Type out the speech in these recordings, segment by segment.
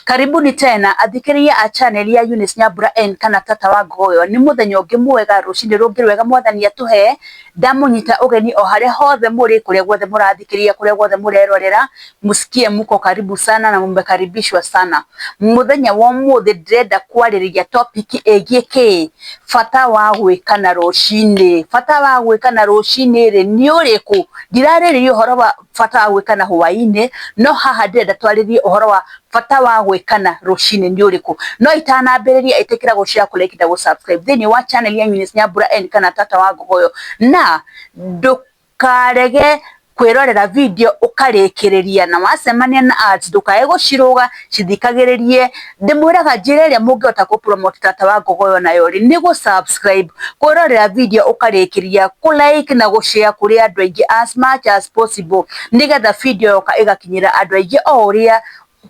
Karibuni tena athikĩrĩria a channel ya Eunice Nyambura N kana Tata wa Ngogoyo, nĩ mũthenya ũngĩ mwega, rũcinĩ rũngĩ rwega mwathani atũhe, ndamũnyita ũgeni o harĩa hothe mũrĩ, kũrĩa guothe mũrathikĩrĩria, kũrĩa guothe mũrerorera, mũsikie mũko karibu sana na mũmekaribishwa sana. Mũthenya wa ũmũthĩ ndĩrenda kwarĩrĩria topic ĩgiĩ kĩ? Bata wa gwĩkana rũcinĩ. Bata wa gwĩkana rũcinĩ rĩ, nĩ ũrĩkũ? Ndirarĩrĩria ũhoro wa bata wa gwĩkana hwaĩ-inĩ, no haha ndĩrenda twarĩrie ũhoro wa bata wa gwĩkana rũcinĩ nĩ ũrĩkũ. No itanambĩrĩria ĩtĩkĩra gũshare, kũ like na gũ subscribe thĩiniĩ wa channel ya Eunice Nyambura N kana Tata wa Ngogoyo, na ndũkarege kwĩrorera video ũkarĩkĩrĩria, na wacemania na ads ndũkae gũcirũga. cithikagĩrĩrie ndĩmwĩraga njĩra ĩrĩa mũngĩhota kũ promote tata wa ngogoyo nayo rĩ nĩ gũ subscribe kwĩrorera video ũkarĩkĩria kũ like na gũ share kũrĩ andũ aingĩ as much as possible nĩgetha video yoka ĩgakinyĩra andũ aingĩ o ũrĩa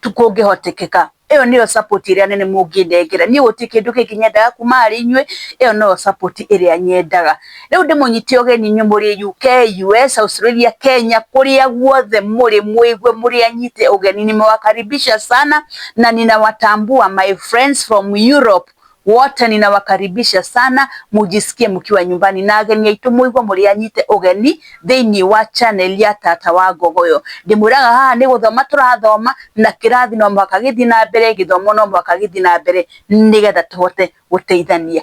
kũngĩhotekeka ĩyo nĩyo support ĩrĩa nene mũngĩnengera niĩ gũtirĩ kĩndũ kĩngĩ nyendaga kuma harĩ inyuĩ ĩyo noyo support ĩrĩa nyendaga. Rĩu ndĩmũnyite ũgeni inyuĩ mũrĩ UK, US, Australia, Kenya, kũrĩa guothe mũrĩ mũigue mũrĩ anyite ũgeni. Nimewakaribisha sana na ninawatambua my friends from Europe wote ninawakaribisha sana, mujisikie mkiwa nyumbani, na ageni aitũ mũigua mũrĩ anyite ũgeni thĩinĩ wa channel ya Tata wa Ngogoyo. Ndĩmwĩraga haha nĩ gũthoma tũrathoma na kĩrathi no mũhaka gĩthiĩ na mbere, gĩthomo no mũhaka gĩthiĩ na mbere nĩgetha tũhote gũteithania.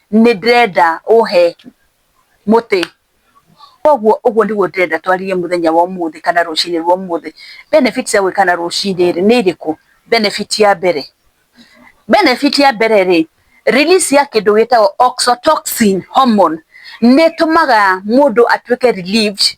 nĩ ndĩrenda ũhe mũtĩ, koguo ũguo nĩguo ndĩrenda twarĩrie mũthenya wa ũmũthĩ kana rũcinĩ rwa ũmũthĩ. Benefit cia gwĩkana rũcinĩ rĩ nĩ irĩkũ? Benefit ya mbere, benefit ya mbere rĩ, release ya kĩndũ gĩtagwo oxytocin hormone nĩ ĩtũmaga mũndũ atuĩke relieved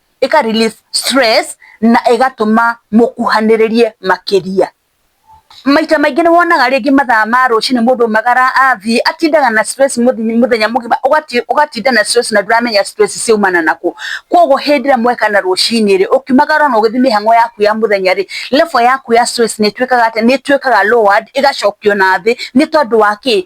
ĩka release stress na ĩgatũma mũkuhanĩrĩrie makĩria. Maita maingĩ nĩ wonaga rĩngĩ mathaa ma rũcinĩ mũndũ aumagara athiĩ, atindaga na stress mũthenya mũgima, ũgatinda na stress na ndũramenya stress ciumana na kũ. Kwoguo hĩndĩ ĩrĩa mweka na rũcinĩ rĩ, ũkiumagara ona ũgĩthiĩ mĩhang'o yaku ya mũthenya rĩ, level yaku ya stress nĩ ĩtuĩkaga atĩa, nĩ ĩtuĩkaga lowered ĩgacokio na thĩ nĩ tondũ wa kĩ?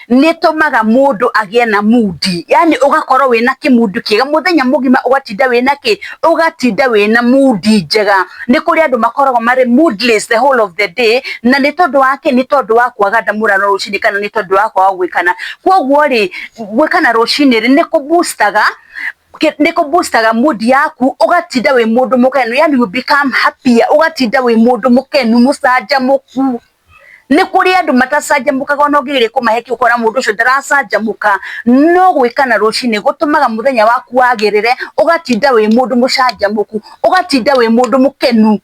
nĩtũmaga mũndũ agĩe na mudi yani ũgakorwo wĩna kĩmudu kĩega mũthenya mũgima ũgatinda wĩna kĩ ũgatinda wĩna mudi njega nĩ kũrĩ andũ makoragwo marĩ moodless the whole of the day na nĩ tondũ wa kĩ nĩ tondũ wa kwaga ndamũrano rũcinĩ kana nĩ tondũ wa kwaga gwĩkana kwoguo rĩ gwĩkana rũcinĩ rĩ nĩ kũbustaga nä kå boostaga mood yaku ũgatinda wä må ndå må kenu yani you become happier ũgatinda wä må ndå må kenu må canjamå ku nĩ kũrĩ andũ matacanjamũkaga ona ũngĩgeria kũmahe kĩ ũkona mũndũ ũcio ndaracanjamũka no gwĩka na rũcinĩ gũtũmaga mũthenya waku wagĩrĩre ũgatinda wĩ mũndũ mũcanjamũku ũgatinda wĩ mũndũ mũkenu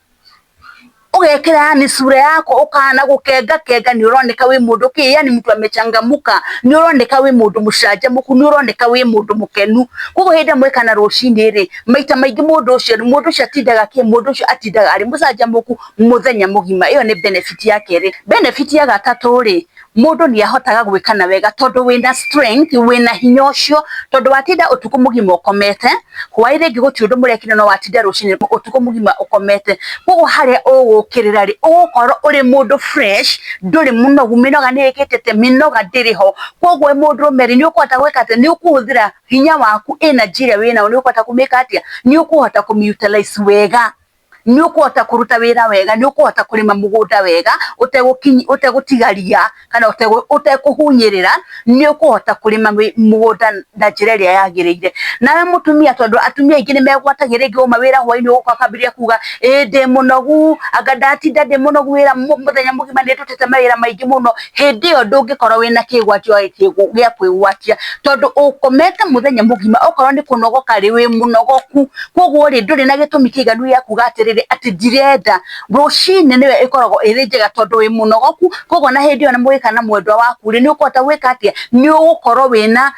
ũgekĩra yani cura yaku ũkahana gũkenga kenga nĩ ũroneka wĩ mũndũ kĩ yani mtu amechangamka nĩ ũroneka wĩ mũndũ mũcanjamũku nĩ ũroneka wĩ mũndũ mũkenu koguo hĩndĩ ĩrĩa mwekana rũcinĩ rĩ maita maingĩ mũndũ ũcio mũndũ ũcio atindaga kĩ mũndũ ũcio atindaga arĩ mũcanjamũku. Mũthenya mũgima. Ĩyo nĩ benefit ya kerĩ. Benefit ya gatatũ rĩ, mũndũ nĩ ahotaga gwĩka na wega tondũ wĩna strength, wĩna hinya ũcio, tondũ watinda ũtukũ mũgima ũkomete, hwaĩ rĩngĩ gũtirĩ ũndũ mũrekire no watinda rũcinĩ ũtukũ mũgima ũkomete. Kũguo harĩa ũgũkĩrĩra rĩ, ũgũkorwo ũrĩ mũndũ fresh, ndũrĩ mũnogu, mĩnoga nĩ ĩkĩte atĩa? Mĩnoga ndĩrĩ ho. Kũguo wĩ mũndũrũme rĩ, nĩ ũkũhota gwĩka atĩ, nĩ ũkũhũthĩra hinya waku, energy ĩrĩa wĩnayo nĩ ũkũhota kũ make atĩa? Nĩ ũkũhota kũ utilize wega. nĩ ũkũhota kũruta wĩra wega, nĩ ũkũhota kũrĩma mũgũnda wega ũtegũtiga ria kana ũtekũhunyĩrĩra, nĩ ũkũhota kũrĩma mũgũnda na njĩra ĩrĩa yagĩrĩire. Nawe mũtumia tondũ atumia aingĩ nĩ megwatagia rĩngĩ wauma wĩra hwainĩ ũgoka ũkambĩrĩria kuga ĩĩ ndĩ mũnogu, anga ndatinda ndĩ mũnogu wĩra mũthenya mũgima nĩ ndutĩte mawĩra maingĩ mũno. hĩndĩ ĩyo ndũngĩkorwo wĩna kĩgwatio gĩa kwĩgwatia, tondũ ũkomete mũthenya mũgima, okorwo nĩ kũnogoka rĩ, wĩ mũnogoku, koguo rĩ, ndũrĩ na gĩtũmi kĩiganu gĩa kuuga atĩrĩrĩ, atĩ ndirenda. Rũcinĩ nĩyo ĩkoragwo ĩrĩ njega tondũ wĩ mũnogoku, koguo ona hĩndĩ ĩyo mũgĩka na mwendwa waku rĩ, nĩ ũkũhota gwĩka atĩa? Nĩ ũgũkorwo wĩna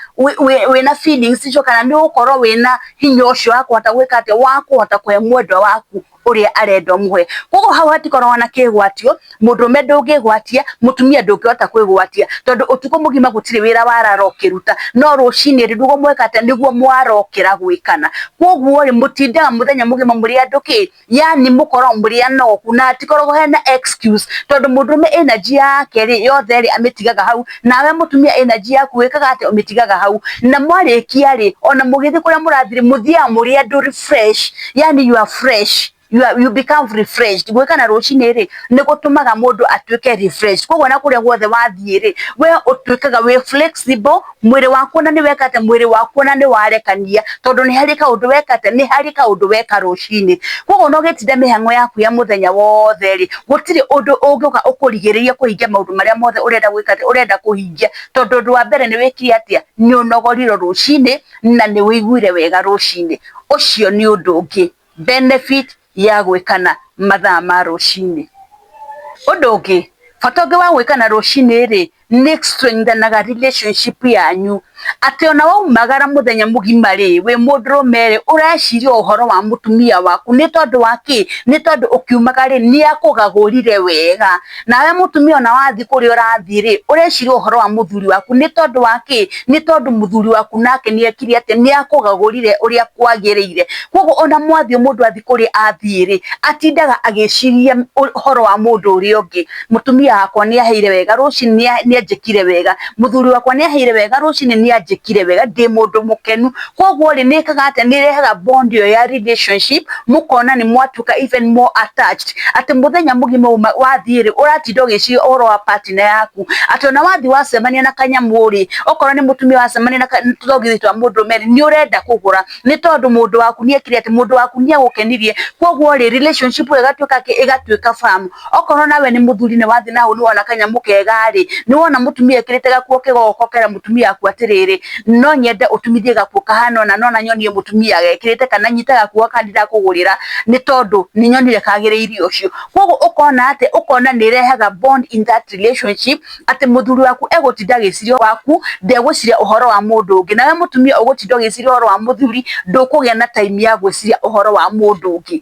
wĩna feelings icio kana nĩ ũgũkorwo wĩna hinya ũcio wa kũhota gwĩka atĩa? Wa kũhota kũhe mwendwa waku uria arenda umuhe koguo hau hatikoragwo na kigwatio mundume ndungigwatia mutumia ndungihota kwigwatia tondu utuko mugima gutire wira warara ukiruta no rucini ri ndugo mweka ata niguo mwarokira gwikana koguo ri mutindaga muthenya mugima muri andu ki yani mukoragwo muri anoku na hatikoragwo hena excuse tondu mundume energy yake ri yothe ri amitigaga hau nawe mutumia energy yaku wikaga ati umitigaga hau na mwarikia ri ona mugithi kuria murathire muthiaga muri andu fresh yani you are fresh you are you become refreshed gwĩkana rũcinĩ rĩ nĩ gũtũmaga mũndũ atuĩke refreshed koguo ona kũrĩa guothe wathiĩ rĩ we ũtuĩkaga wĩ flexible mwĩrĩ waku ona nĩ weka atĩa mwĩrĩ waku ona nĩ warekania tondũ nĩ harĩ kaũndũ weka atĩa nĩ harĩ kaũndũ weka rũcinĩ koguo ona ũgĩtinda mĩhang'o yaku ya mũthenya wothe rĩ gũtirĩ ũndũ ũngĩũka ũkũrigĩrĩrie kũhingia maũndũ marĩa mothe ũrenda gwĩka atĩa ũrenda kũhingia tondũ ũndũ wa mbere nĩ wĩkire atĩa nĩ ũnogorirwo rũcinĩ na nĩ ũiguire wega rũcinĩ, ũcio nĩ ũndũ ũngĩ, benefit ya gwĩkana mathaa ma rũcinĩ. Ũndũ ũngĩ, bata ũngĩ wa gwĩkana rũcinĩ rĩ, nĩ strengthen aga relationship yanyu, atĩ ona waumagara mũthenya mũgima rĩ, wĩ mũndũrũme rĩ, ũreciria o ũhoro wa mũtumia waku, nĩ tondũ wa kĩ? Nĩ tondũ ũkiumaga rĩ, nĩ akũgagũrire wega. nawe mũtumia ona wathiĩ kũrĩa ũrathiĩ rĩ ũreciria ũhoro wa mũthuri waku nĩ tondũ wa kĩ nĩ tondũ mũthuri waku nake nĩ ekire atĩ nĩ akũgagũrire ũrĩa kwagĩrĩire koguo ona mwathiĩ mũndũ athiĩ kũrĩa athiĩ rĩ atindaga agĩciria ũhoro wa mũndũ ũrĩa ũngĩ mũtumia wakwa nĩ aheire wega rũcinĩ nĩ anjĩkire wega mũthuri wakwa nĩ aheire wega rũcinĩ nĩ anjĩkire wega ndĩ mũndũ mũkenu Koguo rĩ nĩ ĩkaga atĩ nĩ ĩrehaga bond ĩyo ya relationship mũkona nĩ mwatuĩka even more attached atĩ mũthenya mũgima wathiĩ rĩ ũratinda ũgĩciria ũhoro wa partner yaku atĩ ona wathiĩ wacemania na kanyamũ rĩ okorwo nĩ mũtumia wacemania na tũthogithi twa mũndũrũme rĩ nĩ ũrenda kũgũra nĩ tondũ mũndũ waku nĩ ekire atĩ mũndũ waku nĩ agũkenirie. Koguo rĩ relationship ĩyo ĩgatuĩka atĩ ĩgatuĩka firm. Okorwo nawe nĩ mũthuri nĩ wathiĩ na hau nĩ wona kanyamũ kega-rĩ, nĩ wona mũtumia ekĩrĩte gakuo kega ũgoka ũkera mũtumia waku atĩrĩrĩ, no nyende ũtumithie gakuo kahana ũna, nona nyonie mũtumia gekĩrĩte kana nyite gakuo gaka ndĩrakũgũrĩra nĩ tondũ nĩ nyonire kagĩrĩire ũcio. Kũguo ũkona atĩ, ũkona nĩ ĩrehaga bond in that relationship atĩ mũthuri waku egũtinda agĩciria waku, ndegũciria ũhoro wa mũndũ ũngĩ. Nawe mũtumia ũgũtinda ũgĩciria ũhoro wa mũthuri, ndũkũgĩa na time ya gwĩciria ũhoro wa mũndũ ũngĩ.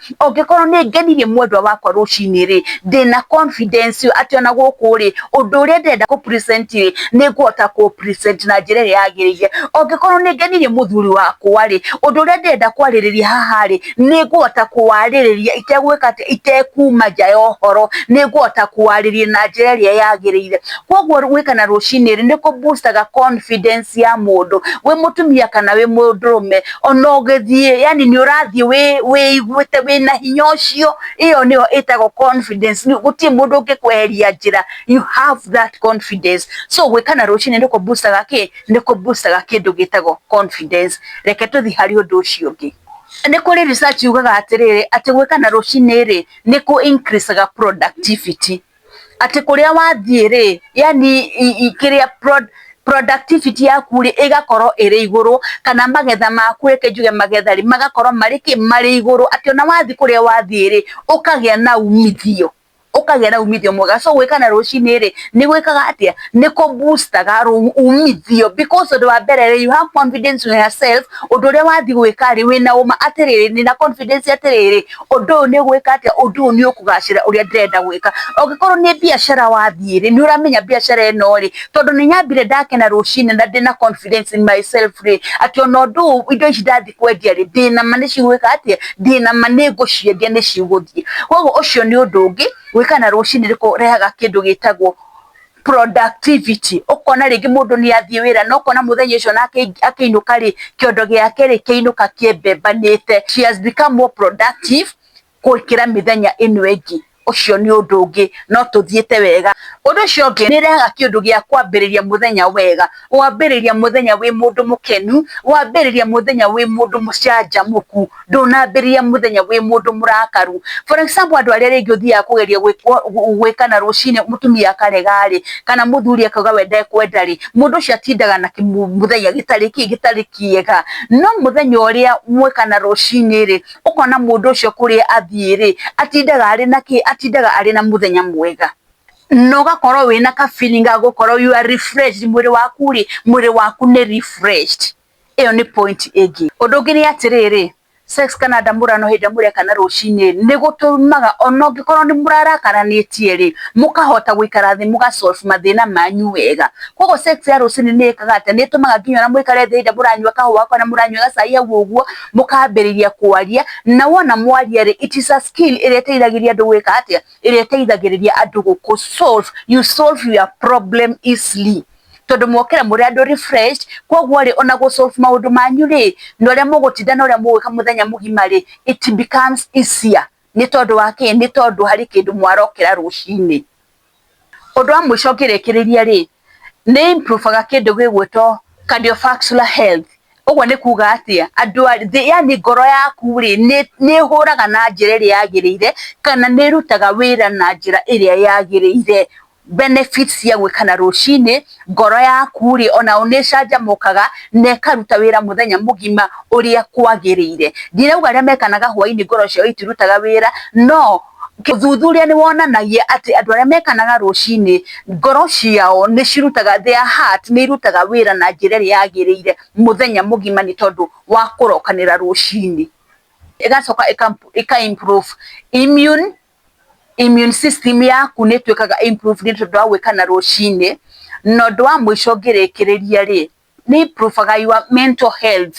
ũngĩkorwo nĩ ngenirie mwendwa wakwa rũcinĩ rĩ ndĩna confidence atĩ ona gũkũ rĩ ũndũ ũrĩa ndĩrenda kũ present rĩ nĩ ngũhota kũ present na njĩra ĩrĩa yagĩrĩire ũngĩkorwo nĩ ngenirie mũthuri wakwa rĩ ũndũ ũrĩa ndĩrenda kwarĩrĩria haha rĩ nĩ ngũhota kũwarĩrĩria itegwĩka atĩ itekuma nja ya ũhoro nĩ ngũhota kũwarĩrĩria na njĩra ĩrĩa yagĩrĩire koguo gwĩkana rũcinĩ rĩ nĩ kũ booster ga confidence ya mũndũ wĩ mũtumia kana wĩ mũndũrũme ona ũgĩthiĩ yani nĩ ũrathiĩ wĩ- wĩiguĩte wĩna hinya ũcio ĩyo nĩyo ĩtagwo confidence Nĩ- gũtirĩ mũndũ ũngĩkweheria njĩra you have that confidence so gwĩkana rũcinĩ nĩkũ boostaga kĩ nĩkũ boostaga kĩndũ gĩtagwo confidence reke tũthiĩ harĩ ũndũ ũcio ũngĩ nĩ kũrĩ research yugaga atĩrĩrĩ atĩ gwĩkana rũcinĩ rĩ nĩkũ increasaga productivity atĩ kũrĩa wathiĩ rĩ, yaani kĩrĩa productivity yaku rĩ ĩgakorwo ĩrĩ igũrũ, kana magetha maku reke njuge magetha rĩ, magakorwo marĩ kĩ? Marĩ igũrũ, atĩ ona wathiĩ kũrĩa wathiĩ rĩ, ũkagĩa na umithio, ũkagĩa na umithio mwega. So gwĩka na rũcinĩ rĩ, nĩ gwĩkaga atĩa? Nĩ kũ boost aga umithio because ũndũ wa mbere rĩ, you have confidence in yourself, ũndũ ũrĩa wathiĩ gwĩka rĩ, wĩna ũũma atĩ rĩrĩ, ndĩna confidence atĩ rĩrĩ. ũndũ ũyũ nĩ gwĩka atĩa, ũndũ ũyũ nĩ ũkũgacĩra ũrĩa ndĩrenda gwĩka. Ũngĩkorwo nĩ biacara wathiĩ rĩ, nĩ ũramenya biacara ĩno rĩ, tondũ nĩ nyambire ndakena rũcinĩ na ndĩna confidence in myself rĩ, atĩ ona ũndũ ũyũ indo ici ndathiĩ kwendia rĩ, ndĩna ma nĩ cigwĩka atĩa, ndĩna ma nĩ ngũciendia nĩ cigũthiĩ. Kũguo ũcio nĩ ũndũ ũngĩ, gwĩkena rũcinĩ nĩ kũrehaga kĩndũ gĩtagwo... productivity ũkona rĩngĩ mũndũ nĩ athiĩ wĩra na ũkona mũthenya ũcio na akĩinũka rĩ kĩondo gĩake rĩ kĩinũka kĩmbembanĩte she has become more productive gũkĩra mĩthenya ĩno ĩngĩ ũcio nĩ ũndũ ũngĩ no tũthiĩte wega ũndũ ũcio ũngĩ nĩ ĩrehaga kĩndũ gĩa kwambĩrĩria mũthenya wega wambĩrĩria mũthenya wĩ mũndũ mũkenu wambĩrĩria mũthenya wĩ mũndũ mũcanjamũku. ndũnambĩrĩria mũthenya wĩ mũndũ mũrakaru. For example andũ arĩa rĩngĩ ũthiaga kũgeria gwĩkana rũcinĩ mũtumia akarega rĩ, kana mũthuri akauga we ndekwenda rĩ, mũndũ ũcio atindaga na kĩmũthenya gĩtarĩ kĩ, gĩtarĩ kĩega. No mũthenya ũrĩa mwekana rũcinĩ rĩ, ũkona mũndũ ũcio kũrĩa athiĩ rĩ, atindaga arĩ na kĩ, atindaga arĩ na mũthenya mwega. Na ũgakorwo wĩna ka feeling ga gũkorwo you are refreshed, mwĩrĩ waku rĩ, mwĩrĩ waku nĩ refreshed. ĩyo nĩ point ĩngĩ ũndũ ũngĩ nĩ atĩrĩrĩ sex kana ndamũra no hĩndĩ ĩrĩa mũrekana rũcinĩ nĩ gũtũmaga ona ũngĩkorwo nĩ mũrarakaranĩtie rĩ mũkahota gũikara thĩ mũga solve mathĩna manyu wega koguo sex ya rũcinĩ nĩ ĩkaga atĩ nĩ ĩtũmaga nginya ona mũikare thĩ hĩndĩ ĩrĩa mũranyua kahũa kana mũranyua gacai hau ũguo mũkambĩrĩria kwaria na wona mwaria rĩ it is a skill ĩrĩa ĩteithagĩria andũ gwĩka atĩa ĩrĩa ĩteithagĩrĩria andũ gũkũ solve you solve your problem easily. tondũ mokĩra mũrĩ andũ refreshed koguo rĩ ona gũ solve maũndũ manyu rĩ na ũrĩa mũgũtinda na ũrĩa mũgwĩka mũthenya mũgima rĩ it becomes easier nĩ tondũ wa kĩĩ? Nĩ tondũ harĩ kĩndũ mwarokĩra rũcinĩ. Ũndũ wa mũico ngĩrĩkĩrĩria rĩ, nĩ ĩ improve aga kĩndũ gĩgwĩtwo cardiovascular health. Ũguo nĩ kuuga atĩa? Andũ a thĩ yaani ngoro yaku rĩ, nĩ ĩhũraga na njĩra ĩrĩa yagĩrĩire kana nĩ ĩrutaga wĩra na njĩra ĩrĩa yagĩrĩire. benefits ya gwĩkana rũcinĩ, ngoro yaku rĩ, onayo nĩ ĩcanjamũkaga, na ĩkaruta wĩra mũthenya mũgima ũrĩa kwagĩrĩire. Ndirauga arĩa mekanaga hwainĩ ngoro ciao itirutaga wĩra, no ũthuthuria nĩ wonanagia atĩ andũ arĩa mekanaga rũcinĩ, ngoro ciao nĩ cirutaga, their heart nĩ irutaga wĩra na njĩra ĩrĩa yagĩrĩire mũthenya mũgima nĩ tondũ wa kũrokanĩra rũcinĩ. Ĩgacoka ĩka improve immune immune system yaku nĩ ĩtuĩkaga improved nĩ tondũ wa gwĩka na rũcinĩ, na ũndũ wa mũico ngĩrĩkĩrĩria rĩ, nĩ improve aga your mental health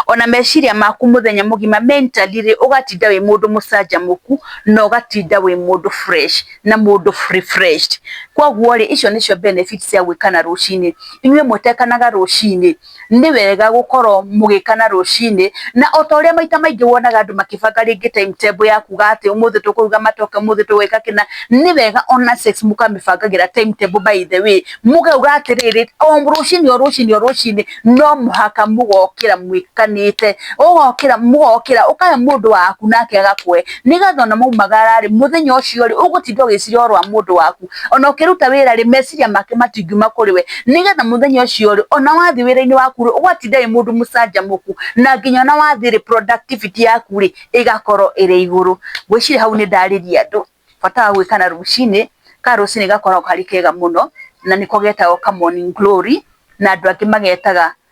ona meciria maku mũthenya mũgima mentally rĩ, ũgatinda wĩ mũndũ mũcanjamũku, na ũgatinda wĩ mũndũ fresh na mũndũ refreshed. Koguo rĩ, icio nĩcio benefits cia gwĩkana rũcinĩ. Inyuĩ mwĩtekanaga rũcinĩ? nĩ wega gũkorwo mũgĩkana rũcinĩ, na o ta ũrĩa maita maingĩ wonaga andũ makĩbanga rĩngĩ timetable ya kuuga atĩ ũmũthĩ tũkũruga matoke, ũmũthĩ tũgwĩka kĩna, nĩ wega o na sex mũkamĩbangagĩra timetable by the way, mũkauga atĩrĩrĩ, o rũcinĩ o rũcinĩ o rũcinĩ no mũhaka mũgokĩra mwĩkanĩte, ũgokĩra, mũgokĩra, ũkahe mũndũ waku nake agakũhe, nĩgetha o na mwaumagara rĩ, mũthenya ũcio rĩ, ũgũtinda ũgĩcira o rwa mũndũ waku, ona ũkĩruta wĩra rĩ meciria make matingiuma kũrĩ we nĩgetha mũthenya ũcio rĩ ona wathiĩ wĩra-inĩ waku rĩ ũgatinda wĩ mũndũ mũcanjamũku na nginya ona wathiĩ rĩ productivity yaku rĩ ĩgakorwo ĩrĩ igũrũ. Ngwĩciria hau nĩ ndarĩria andũ bata wa gwĩka na rũcinĩ, ka rũcinĩ gakoragwo karĩ kega mũno na nĩko getagwo ka morning glory na andũ angĩ magetaga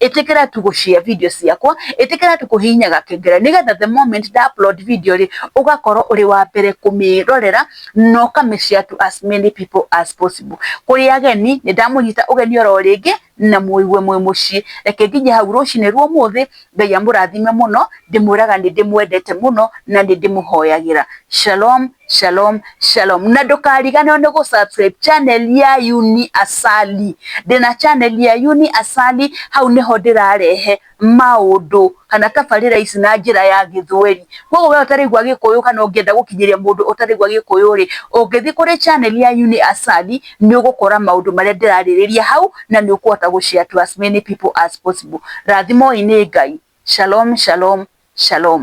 etekera tũgũcia video ciakwa, ĩtĩkĩra tũkũhihinyaga kengele, nĩgetha the moment nda upload video rĩ, ũgakorwo ũrĩ wa mbere kũmĩrorera, na ũka mĩ share to as many people as possible. Kũrĩ ageni, nĩ ndamũnyita ũgeni oro rĩngĩ, na mũigue mwĩ mũciĩ. Reke nginye hau rũcinĩ rwa ũmũthĩ, Ngai amũrathime mũno, ndĩmwĩraga nĩ ndĩmwendete mũno, na nĩ ndĩmũhoyagĩra. Shalom. Shalom Shalom na ndũkariganĩrwo nĩ gũ subscribe channel ya Uni Asali, ndĩna channel ya Uni Asali, hau nĩho ndĩrarehe maũndũ kana tabarĩra ici na njĩra ya gĩthweri, koguo we ũtaraigua gĩkũyũ kana ũngĩenda gũkinyĩria mũndũ ũtaraigua gĩkũyũ rĩ, ũngĩthiĩ kũrĩ channel ya Uni Asali nĩ ũgũkora maũndũ marĩa ndĩrarĩrĩria hau na nĩ ũkũhota gũ share to as many people as possible. Rathimoi nĩ Ngai. Shalom Shalom Shalom.